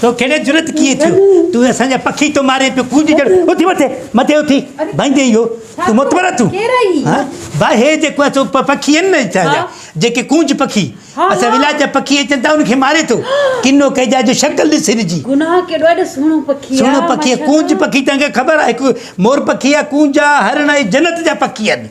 تو کي اهڙي جرئت ڪيئن ٿيو؟ تون اسان جا پکي ٿو مارين پيو ڪوجي جهڙو اٿي مٿي مٿي اٿي بنهندي اهو تون متبر ٿيون ها ڀاء هي جيڪو اسو پکي آهن نه اسان جا جيڪي ڪونج پکي اسان ولايت جا پکي اچن ٿا ان کي ماري ٿو ڪنو ڪئي جا جو شڪل ڏس هن جي گناهه ڪيڏو اهڙو سهڻو پکي سهڻو پکي ڪونج پکي تنهن کي خبر آهي مور پکي آهي ڪونج آهي هرڻ آهي جنت جا پکي آهن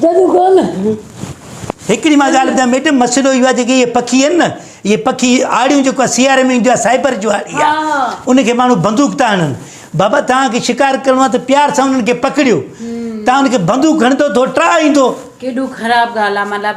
جدو ڪونه. هڪڙي مان ڳالهه ٻڌايان ميڊم مسئلو اهو آهي جيڪي اهي پکي آهن نه اهي پکي آڙيون جيڪو آهي سياري ۾ ايندو آهي سائبر جو آڙي آهي ان کي ماڻهو بندوق ٿا هڻن بابا توهان کي شڪار ڪرڻو آهي ته پيار سان انهن کي پڪڙيو توهان ان کي بندوق هڻندو ٿو ٽاهه ايندو ڪيڏو خراب ڳالهه آهي مطلب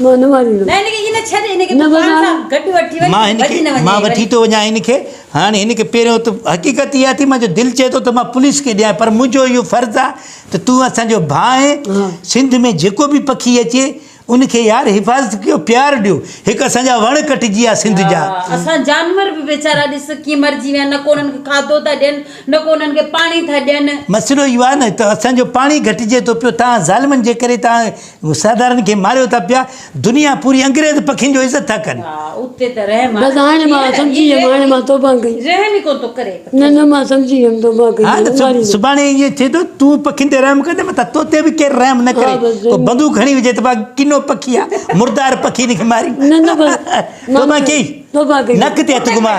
مان وٺي ٿو وڃان هن کي. هاڻي هن کي پهريون ته حقيقت اها ٿي مانجو دل چئي ٿو ته مان پوليس کي ڏيان پر منهنجو اهو فرض آهي ته تون اسان جو ڀاء آهين سنڌ ۾ جيڪو به پکي اچي ان کي يار حفاظت ڪيو پيار ڏيو هڪ اسان جا وڻ ڪٽجي ويا سنڌ جا. اسان جانور به ويچارا ڏس ڪيئن مرجي ويا نه ڪو انهن کي کاڌو ٿا ڏين نه ڪو انهن کي پاڻي ٿا ڏين. مسئلو اهو آهي نه ته اسان جو پاڻي گهٽجي ٿو پيو تهان ظالمن جي ڪري تهان مسادارن کي ماريو ٿا پيا. دنيا پوري انگريز پکين جو عزت ٿا ڪن. بس هاڻي مان سمجهي ويم هاڻي مان توبه ڪئي. نه نه مان سمجهي ويم توبه ڪئي. هاڻ ته سڀاڻي ائين ٿئي ٿو تون پکين تي رحم ڪندي متان تو تي به ڪير رحم نه ڪري ڪو بندوق هڻي وجهي ته واهه ڪنو پکي آ مردار پکي ان کي ماري توبه ڪئي. نڪ تي هٿ گهماء.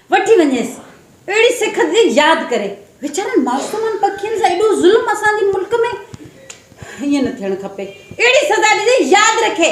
وٺي وڃيس اهڙي سک تي ياد ڪري. ويچارن معصومن پکين سان ايڏو ظلم اسان جي ملڪ ۾ ائين نه ٿيڻ کپي اهڙي سزا ڏجي ياد رکي.